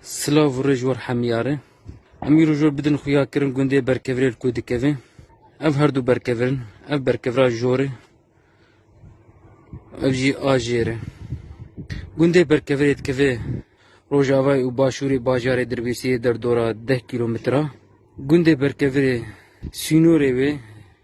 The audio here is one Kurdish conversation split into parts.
Silav û rêj war hemiyarê. Em îro jor bidin xuya kirin gundê berkevirê li ku dikevê. Ev her du berkevirin. Ev berkevira jorê. Ev jî a jêre. Gundê berkevirê dikevê rojavayê û başûrê bajarê Dirbêsiyê derdora deh kîlometre. Gundê berkevirê sînorê wê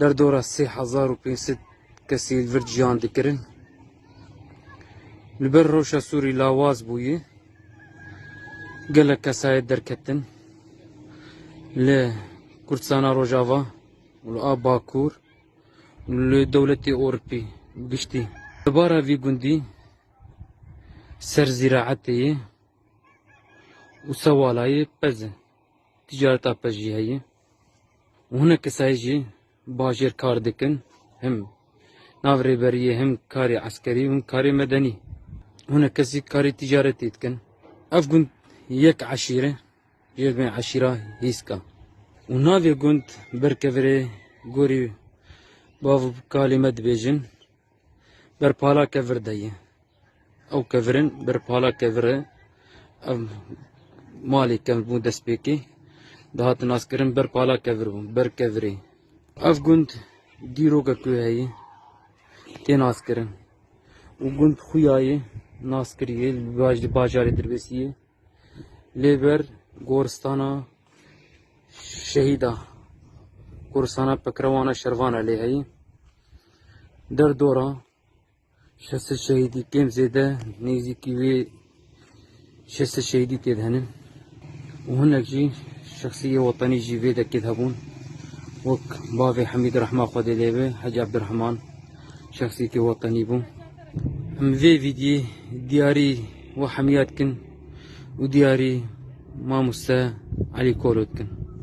Derdora sê hezar û pênc sed kesî li vir ciyan dikirin. Li ber rewşa Sûrî lawaz bûye. Gelek kesayet derketin. Li Kurdistana Rojava û li a Bakur li dewletê Ewropî giştî. Li bara vî gundî ser zîraetê yê û sewalayê pez e. Ticareta pez jî heye. Hûne kesayê jî bajêr kar dikin him nav rêberiyê him karê eskerî hûn karê medenî. Hûne kesî karê tîcaretê dikin. Ev gund yek eşîre jê divê eşîra hîska. Û navê gund berkevirê gorî bav û kalê me dibêjin. ber pala kevir de ye. Ew kevirin ber pala kevir e. Ev malê kev bû destpêkê. Dihat naskirin ber pala kevir bû, ber kevirê. Ev gund dîroka ku heye tê naskirin. û gund xuya ye nas kiriye li baj- li bajarê Dirbêsî ye. Lê ber goristana şehîda, goristana pekrewana şervana lê heye. Der dora şestê şehîdî kêm zêde nêzîkî wê şestê şehîdî tê de henin û hinek jî şexsî yê wetanî jî vê dekê de hebûn wek bavê Hemîd Rehma Xwedê lê be Hecî Ebdirehman şexsîtî wetanî bû. Em vê vîdyê diyarî we hemîya dikin û diyarî mamoste Elî Kolo dikin.